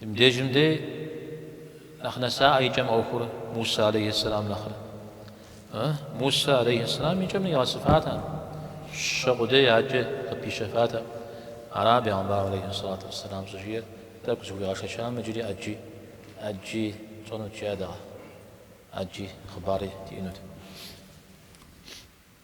Мыбдежым дей нэхъ нэсаӏэ и кӏэм ӏуэхур Мусэ алейхьи сэлам нэхърэ. Мусэ алейхьи сэлам и кӏэм нигъэсыфатэкъым, щэ къудей адэкӏэ къыпищэфатэкъым. Ара бегъымбар алейхьи сэлату вассэлам щӏыжиӏэр тӏэкӏу зыхуигъэшэчам иджыри ӏэджи тщӏэнут жиӏатэкъэ, ӏэджи хъыбари диӏэнут.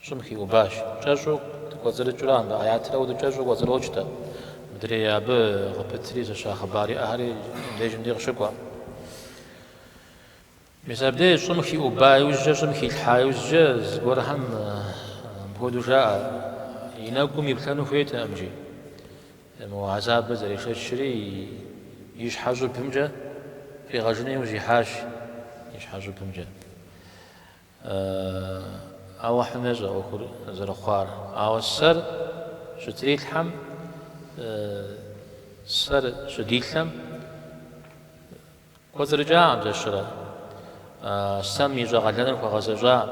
Щӏым хиубащ, Кӏэщӏу дыкӏуэцӏрыкӏрэ а мыбы ӏэятыр кӏэщӏу кӏуэцӏрокӏтэ. Мыдрей абы къыпытри зыща хъыбар иӏэхэри абдежым дей къыщыкӏуэ. Мис абдеж щӏым хиуба иужькӏэ, щӏым хилъхьа иужькӏэ зыгуэрхэм мыпхуэдэу жаӏэ, И нэгум иплъэну хуейтэкъым жи. Мо гьэзабыр зэрешэчри и щхьэ щӏыбымкӏэ фӏигъэжыну иужь ихьащ, и щхьэ щӏыбымкӏэ. Алыхьым ещӏэ ӏуэхур зэрыхъуар, ауэ сэр щытрилъхьэм, сэр щыдилъэм кӏуэцӏрыкӏакъым зэщырэ. Сэм ищӏэ къалэныр хуэгъэзэщӏакъым,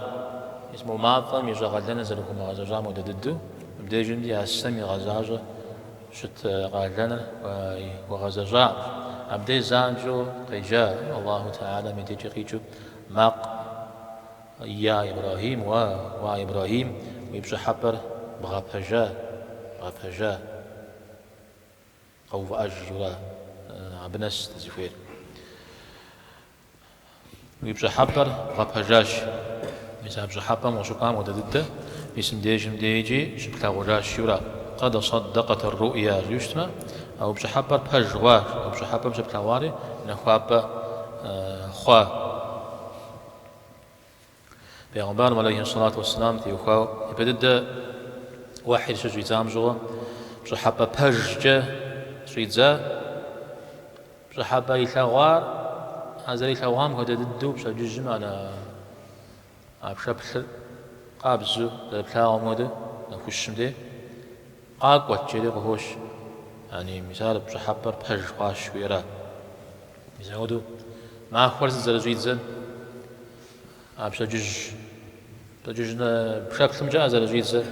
мис мо мафӏэм ищӏэ къалэныр зэрыхуэмыгъэзэщӏам хуэдэ дыдэу, мыбдежым дей а сэм игъэзащӏэу щыт къалэныр хуэгъэзэщӏакъым. Абдеж занщӏэу къеджа Алыхьу Тэгьэлэм и дежкӏэ къикӏыу. Макъ. Йа Ибрагьим, уа, уа Ибрагьим, уи пщӏыхьэпӏэр бгъэпэжа, бгъэпэжа. Къэувыӏэж жиӏэура абы нэс дызыхуейр? Уи пщӏыхьэпӏэр бгъэпэжащ. Мис а пщӏыхьэпӏэм къыщыхъуам хуэдэ дыдэ мис мыбдежым дей икӏи щыплъагъужащ, жиӏэура? Къэд саддэкъэт ар-руӏя жиӏэу щытмэ, а уи пщӏыхьэпӏэр пэж хъуащ, а уи пщӏыхьэпӏэм щыплъэгъуари нэхуапӏэ. хъуа. Пегъымбарым алейхи сэлату уэсселам теухуауэ и пэ дыдэ уэхьир щыщӏидзам щыгъуэ пщӏыхьэпӏэ пэжкӏэ щӏидза, пщӏыхьэпӏэ илъэгъуар а зэрилъэгъуам хуэдэ дыдэу пщэдджыжьым ара? А пшэплъыр къабзэу зэрыплъагъум хуэдэу нэхущым деж къакӏуэт, жери къыхощ, ягьни, мис ар пщӏыхьэпӏэр пэж хъуащ жиӏэра? Мис апхуэдэу махуэр зы зэрыщӏидзэр а пщэдджыжь пщэдджыжь пшэплъымкӏэ а зэрыщӏидзэр,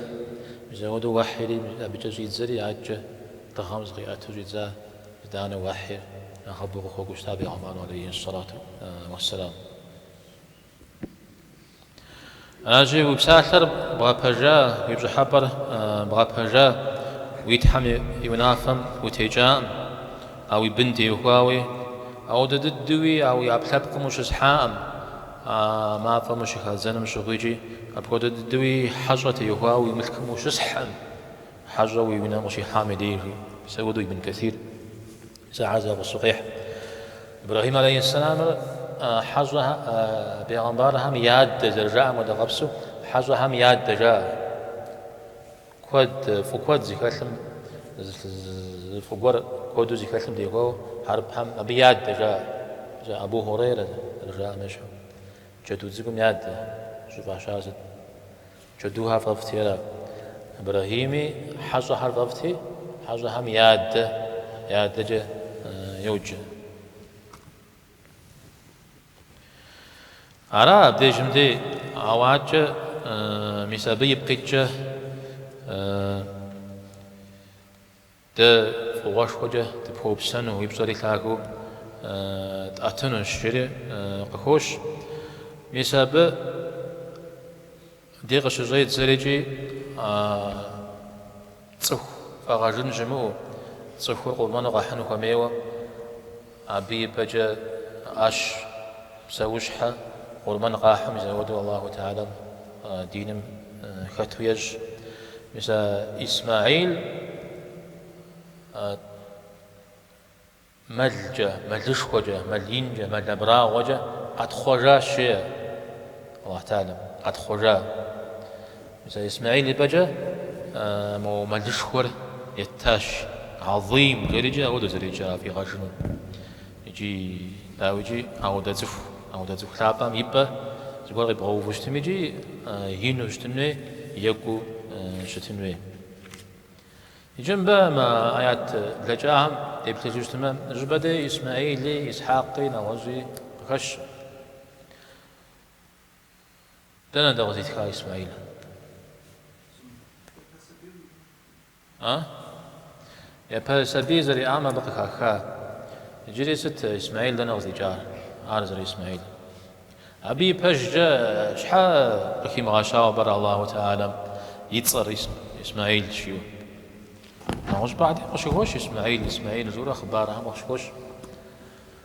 мис апхуэдэу уэхьири абыкӏэ щӏидзэри адэкӏэ дыгъэм зыкъиӏэту щӏидза итӏанэ уэхьир нэхъыбэу къыхуэкӏуэу щыта Пегъымбарым алейхи сэлату уэссэлам. А жи, уи псалъэр бгъэпэжа, уи пщӏыхьэпӏэр бгъэпэжа, уи Тхьэм и унафэм утекӏакъым, а уи бын теухуауи, апхуэдэ дыдэуи а уи ӏэпкълъэпкъым ущысхьакъым, а мафӏэм ущыхадзэным щыгъуикӏи, апхуэдэ дыдэуи хьэщӏэ теухуауэ уи мылъкум ущысхькъым, хьэщӏэ уи унэм къыщихьам и деж. Мис апхуэдэу ибн Кэсир. Мис ахэр зэгъусэу къехь. Ибрэхьим алейхьэссэламыр хьэщӏэ пегъэмбархэм я адэ зэрыжаӏэм хуэдэ къабзэу хьэщӏэхэм я адэ жаӏэ. Куэд, фӏы куэд зыхэлъым, фӏы гуэр куэду зыхэлъым теухуауэ хьэрыпхэм абы я адэ жаӏэ. Зэ Абу Хьурейрэ зэрыжаӏэм ещхьу. Джэду цӏыкӏум я адэ щӏыфӏащар сыт? Джэдухэр фӏэфӏти. Ибрэхьими хьэщӏэхэр фӏэфӏти, хьэщӏэхэм я адэкӏэ йоджэ. Ара абдежым дей гьэуакӏэ, мис абы ипкъ иткӏэ Дэ фӏыгъуэшхуэкӏэ дыпхуэупсэну, уи пщӏэри лъагэу дӏэтынущ, жери къыхощ. Мис абы дей къыщыщӏедзэрикӏи, а цӏыху фӏэгъэжын щымыӏэу, цӏыхур къурмэну къэхьыну хуэмейуэ, Абы и пэкӏэ ӏэщ псэущхьэ къурмэн къахьыр мис ауэдэу Аллаху Теалэм диным хэту ещӏ. Мис а Исмэӏил мэлкӏэ, мэлышхуэкӏэ, мэл инкӏэ, мэл абрагъуэкӏэ къэтхъуэжащ, жеӏэ Аллаху Теалэм, къэтхъуэжа. Зэ Исмэхьил и пӏэкӏэ мо мэлышхуэр еттащ, гьэзим жерикӏи ауэдэу зэрикӏа фӏигъэжыну. Икӏи, дауикӏи, ауэдэ цӏыху, ауэдэ цӏыху лъапӏэм и пӏэ зыгуэр къибгъэуву щытмикӏи ину щытын хуей, екӏуу щытын хуей. Икӏи мыбы мы аят блэкӏахэм деплъыжу щытмэ, зы щӏыпӏэ дей Исмэхьили, Исхьакъи, нэгъуэщӏи къыхэщ. Дэнэ дей къызитха Исмаил? А? Япэ сабий зэриӏам абы къыхаха. Иджыри сыт Исмаил дэнэ къызикӏар? Ар зэры Исмаил. Абы и пэкӏэ щхьэ къыхимыгъэщауэ пӏэрэ Аллаху Теалэм и цӏэр Исмаил жиӏэу? Нэгъуэщӏыпӏэ дей къыщыхощ Исмаил, Исмаил, жиӏэурэ хъыбархэм къыщыхощ.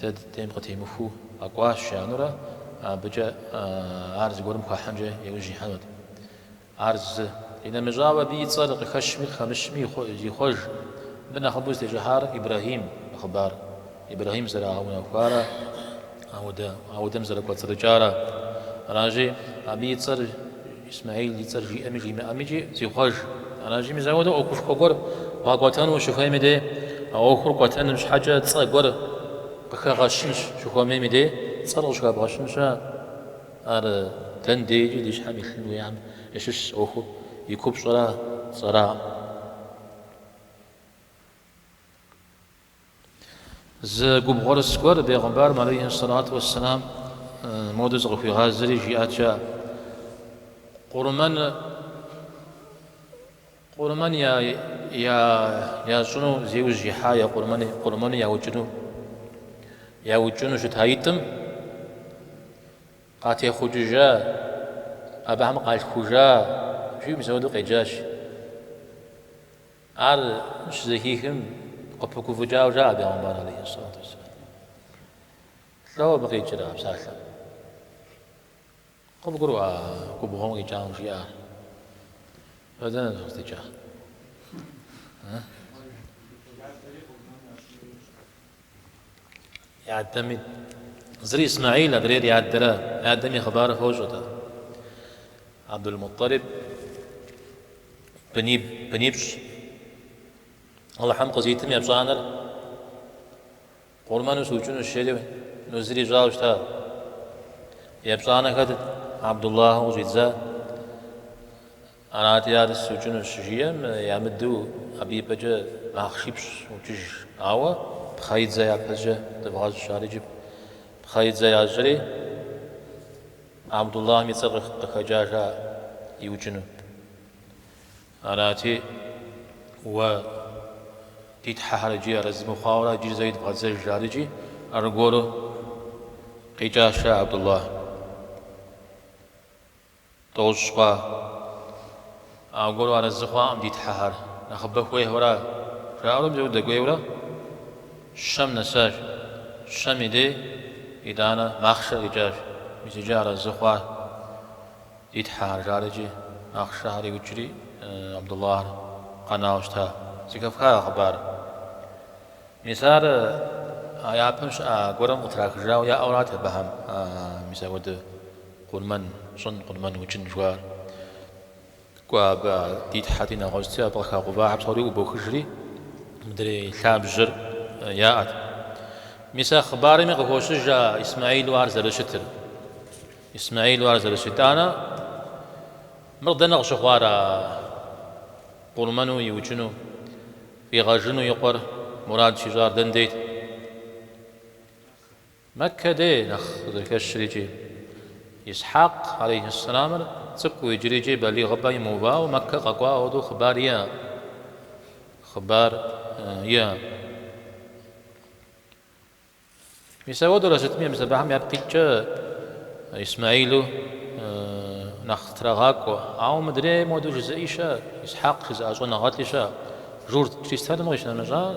Дэ ди дейм къытемыхуу къэкӏуащ жаӏэнурэ, абыкӏэ ар зыгуэрым хуахьынкӏэ и ужь ихьэнут. Ар зы, инэмыщӏауэ, абы и цӏэр къыхэщми къыхэмыщми зихъуэж. Мыбы нэхъыбэу зытещӏыхьар Ибрэхьим и хъыбар, Ибрэхьим зэрагъэунэхуарэ ауэдэм зэрыкӏуэцӏрыкӏарэ аращи, абы и цӏэр Исмэхьил и цӏэр жиӏэми жимыӏэми икӏи зихъуэж. Аращи, мис ауэдэ ӏуэхушхуэ гуэр бгъэкӏуэтэну ущыхуейм и дей, а ӏуэхур кӏуэтэным щхьэкӏэ цӏэ гуэр къыхэгъэщын щыхуэмейм и дей, цӏэр къыщӏыхэбгъэщын щыӏэ? Ар дэнэ дейкӏи ди щхьэм илъын хуеям ящыщщ ӏуэхур, и купщӏэра цӏэракъым. Зы губгъуэрыс гуэр бегъымбарым алейхи сэлату уэсселам модэу зыкъыхуигъазэри жиӏат жа Къурмэн Къурмэн ящӏыну зи ужь ихьа е къурмэну яукӏыну яукӏыну щытаитӏым къатехъукӏыжа абыхэм къалъхужа жиӏэу мис ауэдэу къеджащ. Ар щызэхихым, къыпыгуфӏыкӏауэ жаӏэ бегъымбар алейхи сэлату уэсселам, Лӏо абы къикӏрэ а псалъэм? Къыбгурыӏуа а губгъуэм къикӏам жиӏар? Ар дэнэ къыздикӏа? И адэми, зыр Исмаил, адрейр и адэра, и адэм и хъыбарыр фощӏэ ар. Абдул-Мутӏалиб бынипщӏ Алыхьым къызитым епщӏанэр къурмэну сукӏынущ, жери нузыр ищӏауэ щыта. Епщӏанэр хэтт, Абдуллахьу къыщӏидза. Арати, ар сукӏыну щыжиӏэм, ямыдэу абы и пӏэкӏэ махъшипщӏ укӏыж. Ауэ Пхъэидзэ япэкӏэ дывгъэщӏ, жарэкӏи пхъэидзэ ящӏри, Абдуллахьым и цӏэр къыхэкӏа жа иукӏыну. Арати, уэ ди тхьэхэр иджы арэзы мыхъуауэра иджы зэ идывгъэдзэж, жарэкӏи аргуэру къикӏащ жа Абдуллахь. Тӏощӏ хъуа? Аргуэру арэзы хъуакъым ди Тхьэхэр, нэхъыбэ хуейхэура? жаӏэурэ пщӏыуэ дэкӏуейурэ щэм нэсащ. Щэм и дей, итӏанэ, махъшэр къикӏащ. Мис иджы арэзы хъуа ди Тхьэхэр? жарэкӏи, махъшэхэр иукӏри, Абдуллахьыр къэнауэ щыта. Зэхэфха а хъыбар. Мис ар а япэм щыӏа гуэрым къытрахыжауэ яӏэурат абыхэм. Мис апхуэдэ. Къурмэн щӏын, къурмэн укӏын жыхуаӏэр. Кӏуэ абы, а ди тхьэти нэгъуэщӏти, абы къыхагъэувахэ псори ӏубохыжри, мыдрей лъабжьэр яӏэт. Мис а хъыбарми къыхощыж а Исмаилу ар зэрыщытыр. Исмаилу ар зэрыщыт итӏанэ, мыр дэнэ къыщыхъуар а къурмэну иукӏыну, фӏигъэжыну и къуэр мурад щищӏар дэндейт? Мэккэ дей нэхъ къызэрыхэщыр икӏи. Исхьакъ, алейхьэссэламыр, цӏыкӏуу иджыри икӏи балигъыпӏэ имыувауэ Мэккэ къэкӏуа хуэдэу хъыбар иӏэ. Хъыбар иӏэ. Мис ауэдэурэ сытми мис абыхэм япкъ иткӏэ Исмаилу нэхъ трагъакӏуэ. Ауэ мыдрейм хуэдэу жызыӏи щыӏэ, Исхьакъ жызыӏэ щӏэныгъэлӏи щыӏэ. Журт, чристэным къищынэмыщӏар.